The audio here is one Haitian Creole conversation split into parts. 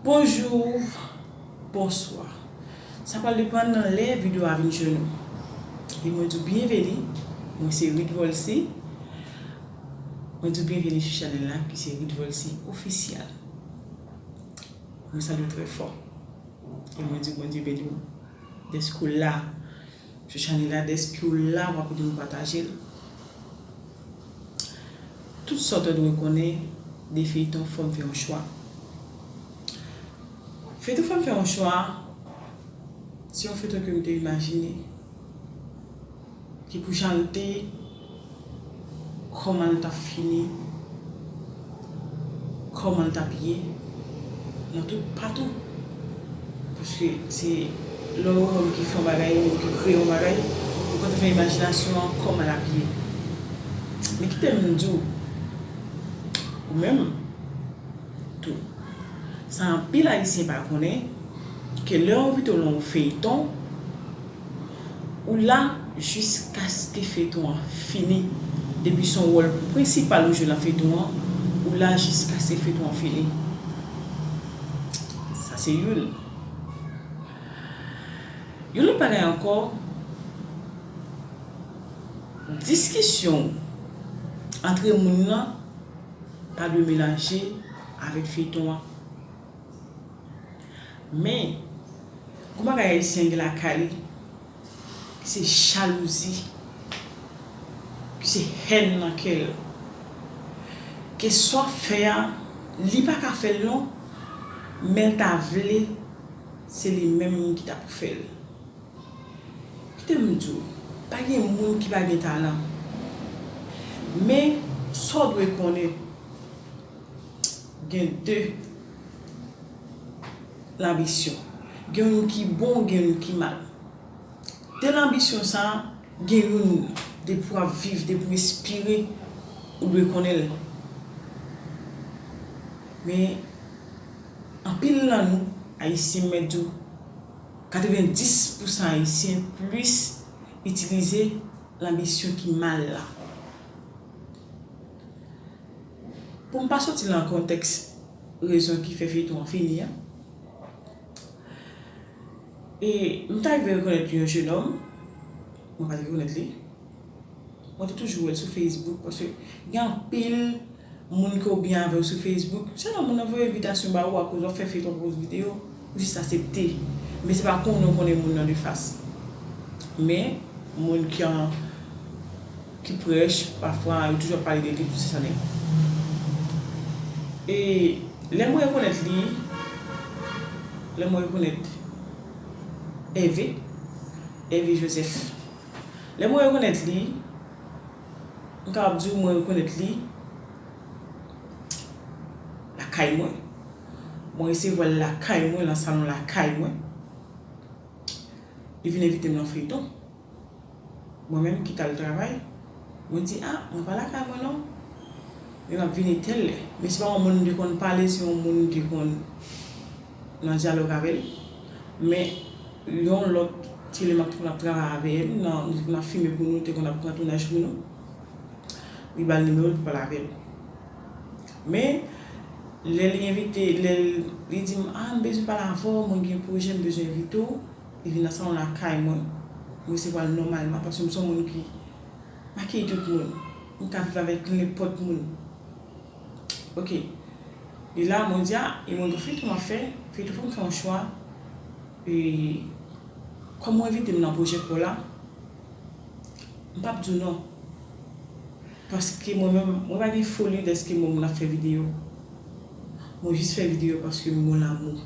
Bonjour Bonswa Sa pral depan nan lè video a vin jwenn ou e mwen di w byenveni mwen se Ruth Volcy mwen di w byenveni sou chanèl la ki se Ruth Volcy Official mwen salye w trè fò e mwen di w Bondye beni w dèske w la. Shushanela despiw la wap ede nou patajel tout sa ou ta dwe konnen de feyton fòm fè yon chwa feyton fòm fè yon chwa se yon feyton kem te imajine ki pou janl te Koman l tap fini? Koman l tap ye? Nan tout patou. Paske se lè ou menm ki fè yon bagay ou menm ki kreye yon bagay, ou konn fè imajinasyon an koman l ap ye. Men kite m di w, ou menm tou, sa anpil ayisyen pa konnen, ke lè w envite w nan yon feyton, Ou la jiskaske feyton an fini depi son wòl prensipal ou jwe lan feyton an ou la jiskaske feyton an fini sa se youn yon lòt bagay ankò diskisyon ou antre moun lan pa dwe melanje avèk feyton an. Men, gwo bagay Ayisyen gen lakay li, ki se jalouzi, ki se hèn nan kè l. Ke sa w ap fè a, li pa ka fè l non, men l ta vle se li menm ki ta pou fè l. Kite m di w, pa gen moun ki pa gen talan. Men, sa w dwe konnen. Gen de lanbisyon. Gen youn ki bon, gen youn ki mal. De lanbisyon sa a, gen youn, depi w ap viv, depi w respire, ou dwe konnen l. Men, anpil nan nou, Ayisyen, m mèt di w, 90 pousan Ayisyen plis itilize lanbisyon ki mal la. Pou m pa soti lan kontèks rezon ki fè feyton an fini an, e m ta rive rekonèt yon jenòm, mwen pa t rekonèt li, mwen te toujou wè l sou Facebook paske gen anpil moun ke w byen avè yo sou Facebook, sèlman moun nan voye envitasyon ba ou akoz w ap fè feyton akoz videyo, ou jis asepte, men se pa konnen w konnen moun nan de fas. Men, moun kan. ki prèch pafwa yo toujou ap pale de li plis ane e lè mwen rekonèt li lè mwen rekonèt Ève Ève Joseph lè mwen rekonèt li m kapab di w mwen rekonèt li lakay mwen mwen resevwa l lakay mwen lan salon lakay mwen li vin envite m lan feyton Mwen menm ki t al travay, mwen di a, mwen pa lakay mwen non. Men m ap vini tèl lè. Men se pa yon moun m te konn pale, se yon moun m te konn nan dyalòg avè l. Men yon lòt ti lè m ap te konn ap travay avè l, nan nou te konn ap fime pou nou, te konn ap pran tounaj pou nou, li ba l nimewo l pou pale avè l. Men, lè li envite, lè li di m a, m bezwen pale avè w, mwen gen pwojè m bezwen envite w. Li vin nan salon lakay mwen. M resevwa l nòmalman paske m se yon moun ki akeyi tout moun. M ka viv avèk nenpòt moun. Ok. E la mwen di a, e mwen gen yon feyton m ap fè. Feyton an fè m fè yon chwa. E kòm ou envite m nan pwojè pa w la, m p ap di w non. Paske mwen menm, mwen pa gen foli dèske mwen moun ap fè videyo. Mwen jis fè videyo paske m gen yon lamou.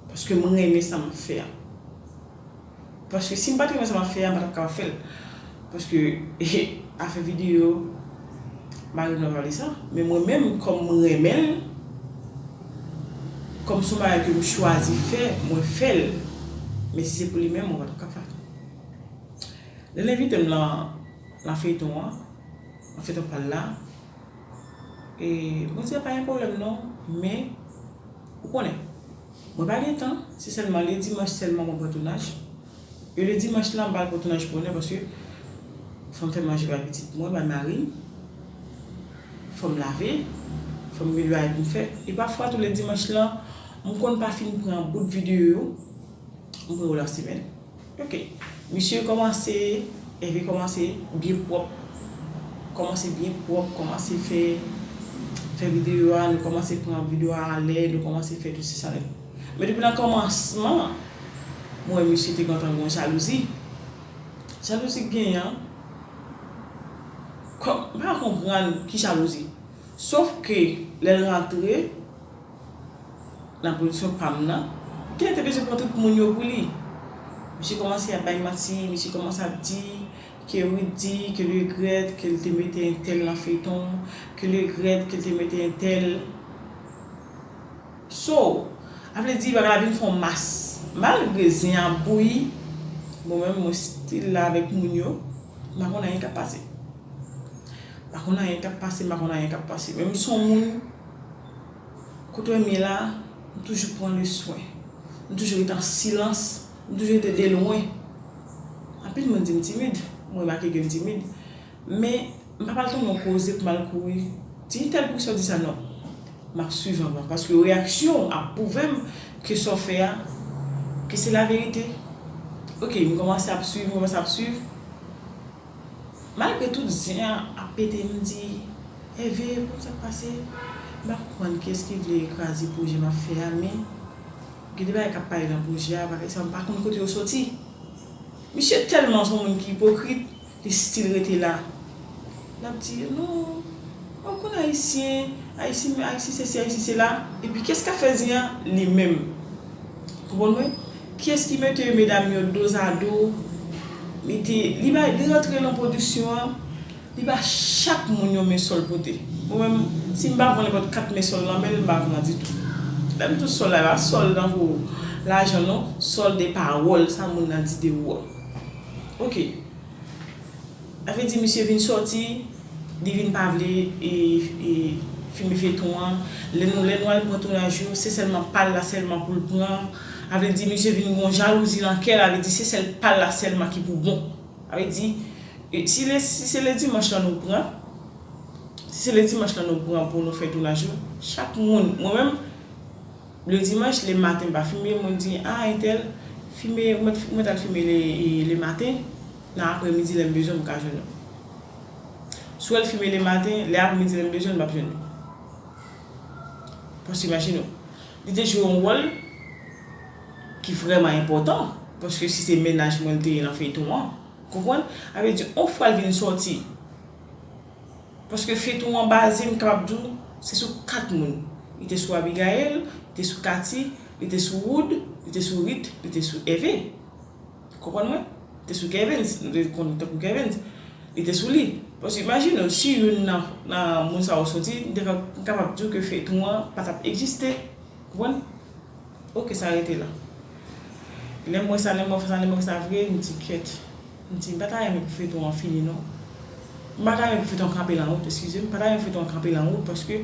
Paske m renmen sa map fè a. Paske si m pat renmen sa map fè a m patap kapab fèl. Paske afè video mari m la pale sa. Men mwen menm kòm m renmenl, kòm son bagay ke m chwazi fè mwen fèl. Men si se pou li menm mwen patap kapab. Lèl envite m nan feyton an, nan feyton pal la, mwen di a pa gen pwoblèm non men. Ou konnen. Mwen pa gen tan, se sèlman le dimanch sèlman mwen pran tounaj. E le dimanch lan m pa al pran tounaj bonè paske fò m fè manje bay pitit mwen, bay mari m, fò m lave, fò m gen dwa pou m fè. E pafwa tou le dimanch lan m konn pa fin pran bout videyo yo, m pran yo lasemèn. Ok misye komanse Herve komanse byen pwop komanse byen pwop komanse fè fè video a nou komanse pran video a alè nou komanse fè tout si sa lèt men depi nan komansman mwen wè misye te gentan gon jalouzi jalouzi k genyen an kòm m pa konprann ki jalouzi sof ke lèl rantre. Nan pwodiksyon pa m nan, Gina te bezwen pran tout moun yo pou li. Misye kòmanse ap bay manti, misye kòmanse ap di ke Ruth di ke li regrèt ke li te mete entèl nan feyton, ke li regrèt ke li te mete entèl. So, a vle di bagay la vin fon mas. Malgre zen an ap bouyi, mwen menm mwen still la avèk moun yo, m pa konn anyen k ap pase. M pa konn anyen k ap pase, m pa konn anyen k ap pase. Men m son moun. Kote m ye la, m toujou pran le swen. M toujou rete an silans. M toujou rete de lwen. Anpil moun di m timid. M remake ke m timid. Men, m pa pral tonbe yon koze pou m al kouri di entèl poukisa w di sa non. M ap swiv anvan. Paske reyaksyon w ap pwouve m ke sa w fè a, ke se laverite. Ok, m kòmanse ap swiv, m kòmanse ap swiv. Malgre tout zen an ap pete m di Ève konn sak pase m pa konprann kiyès ki vle kraze pwojè map fè a men gen de bagay kap pale nan pwojè a bagay sa m pa konn kote yo soti misye tèlman son moun ki ipokrit li stil rete la lap di non mwen pa konn ayisyen ayisyen sesi ayisyen sela epi kiyès kap fè zen an li menm konprann mwen. Kiyes ki mete medam yo dozado mete li bay li rantre lan production an li ba chak moun yon men sol pote mwen menm sim pa pran nenpot 4 men sol lan menl mpa pran ditou lèm tou sol la epa sol tankou lajan non sol de pawol sa moun nan di de ou an ok. Sa vle di misye vin sòti li vin pa vle fini feyton an lè nou lè nou al pran tounaj yo se sèlman pal la sèlman poul pran a vle di misye vin gon jalouzi nan kèl a vle di se sèl pal la sèlman ki pou bon a vle di si le si se le dimanch lan nou pran si se le dimanch lan nou pran pou nou fè tounaj yo chak moun mwen menm Le dimanche le matin pa fime mwen di ah intel fime mwen tal fime le matin nan apre midi lem bezwen m ka jwenn ou swel fime le matin le apre midi lem bezwen map jwenn li paske imagine ou li te jwe yon wol ki vreman enpotan paske si se menaj mwen li te ye nan feyton an konprann avedi on fwa l vin soti Paske feton wan baze m kapab di w se sou 4 moun li te sou Abigaël li te sou Katy li te sou Wood li te sou Rit li te sou Kevin ou konprann mwen li te sou Kevin nou te konn li tankou Kevin li te sou li paske imajine w si youn nan nan moun sa yo soti m te kab m kapab di w ke feyton an pa tap egziste ou konprann ok sa rete la lè m wè sa lè m wè sa lè m wè sa vre m di kèt. Mdi mpa ta renmen pou feyton an fini non mpa ta renmen pou feyton an kanpe lan wout eskize m mpa ta renmen pou feyton an kanpe lan wout paske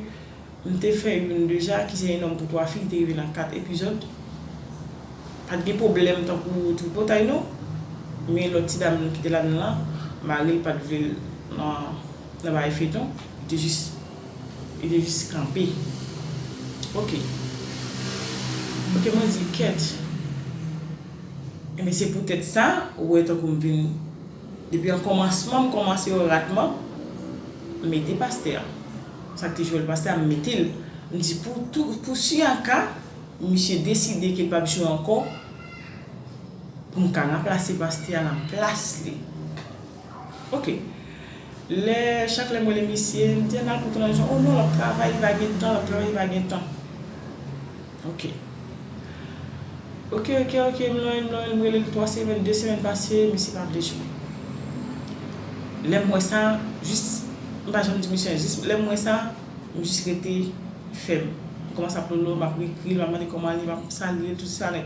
mte fè youn deja ki se un homme pour trois filles li te rive lan 4 epizòd pat gen pwoblèm tankou tripotay non men lòt ti dam ki te ladan lan maril pat vlel nan bagay feyton li te jis li te jis kanpe ok ok mwen di kèt. Ebyen se poutèt sa ou wè tankou m vin depi an kòmansman m kòmanse yo ratman m mete pastè a sa k te jwèl pastè a m mete l m di pou tou pou si an ka misye deside ke l pap jwe ankò pou m ka ranplase pastè a nan plas li. Ok lè chak lèm wèle misye mdi ann al pou tranzisyon oh non lap travay li pa gen tan lap travay li pa gen tan ok ok ok ok m lonl m lonl m relel 3 semèn 2 semèn pase misye pa vle jwe lèm wè sa jis m pa janm di misye anyen jis lèm wè sa m jis rete fèm m kòmanse ap lolo map rekril map mande kòman li map salyel tout sa nèg.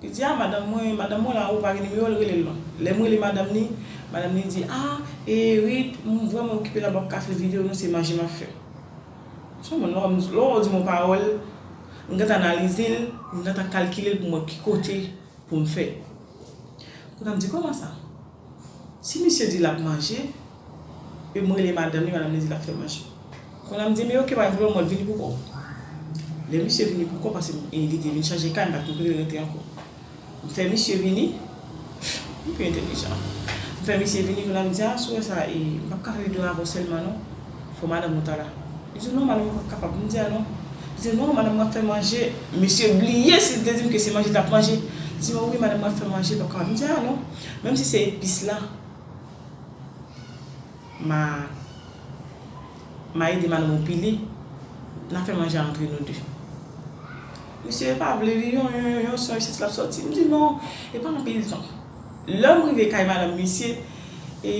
Li di, ah madanm mwen, madanm mwen la, ou pa gen nimewo l, rele l non. Lè m rele madanm ni, madanm ni di, ah e Rit, m vrèman okipe la m pap ka fè videyo non se maji m ap fè. M son moun, lè w di m yon pawòl, m gentan analize l, m gentan kalkile l pou m wè ki kote pou m fè. Kounye a m di, kòman sa? Si misye di lap manje, em rele madanm li, madanm li di lap fè manje. Konn am di men ok pa gen pwoblèm mwen vini pou kòw. Lè misye vini pou kòw pase e li te vin chanje kay m pat konn kote l rete ankò. M fè misye vini, m pi entelijan. M fè misye vini konn am di a sou wè sa e m pap ka fè video avèw sèlman non, fò madanm ou ta la. Li di non madanm ou pap kapab, m di a non. Li di non madanm mwen ap fè manje, misye bliye si li te di m ke se manje li tap manje. Li di mwen wi madanm mwen ap fè manje li pap kapab, m di a non. Menm si se epis la ma ma ede madame ou pile na fè manje a antre nou 2. Misye e pa vle li yon yon yon son isit lap sòti m di non e pa anpil ton. Lèm rive kay madame misye e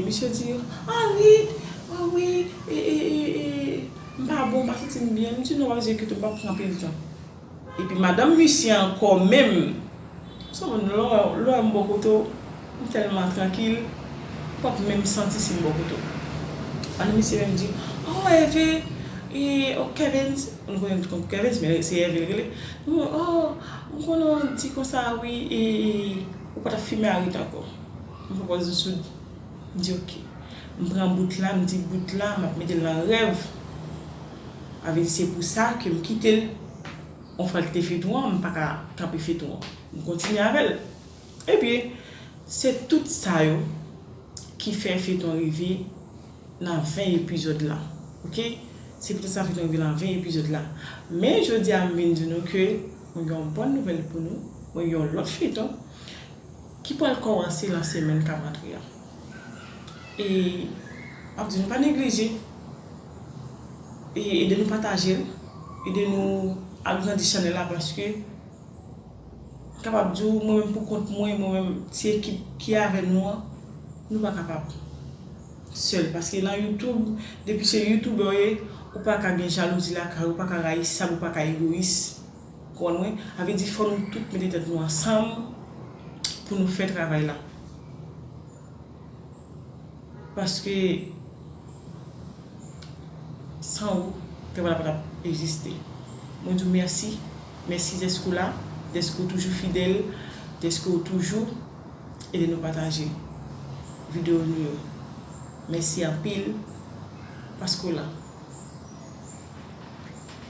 misye di Henriette oh oui e e e e m pa bon m pa santi m byen m di non wap zekit ou m pap pran anpil ton. Epi madanm misye ankò menm. Son moun lè w wè m bò kote w m tèlman trankil w ap menm santi si m bò kote w. Madanm misye menm di oh Ève e oh Kevens m konnen tout konn Kevens men se Ève l rele oh m konnen w di konsa wi e ou pa t ap fime arit ankò. M fè pòz m soud m di ok. M pran bout la m di bout la m ap mete l nan rèv. Avedi se pou sa ke m kite l on fwa l kite feyton an m pa ka kanpe feyton an m kontinye avè l ebyen se tout sa yo ki fè feyton an rive nan 20 epizòd la ok se pou tèt sa feyton an rive nan 20 epizòd la men jodi a m vin di nou ke mwen gen yon bòn nouvèl pou nou mwen gen yon lòt feyton ki pral kòmanse nan semèn k ap antre an e m ap di nou pa neglije. Ede nou patajel, ede nou agrandi chanèl la paske m kapab di w mwen menm pou kont mwen, mwen menm ti ekip ki avè nou an, nou pa kapab sèl paske nan youtube depi se youtubè w ye ou pa ka gen jalouzi lakay ou, ou pa ka rayisab, ou pa ka egoyis ou konprann mwen, sa vle di fò nou tout mete tèt nou ansanm pou nou fè travay la. Paske san ou tè pa tap egziste. Mwen di w mèsi, mèsi dèske w la, dèske w toujou fidèl, dèske w toujou ede nou pataje videyo nou yo. Mèsi anpil paske w la.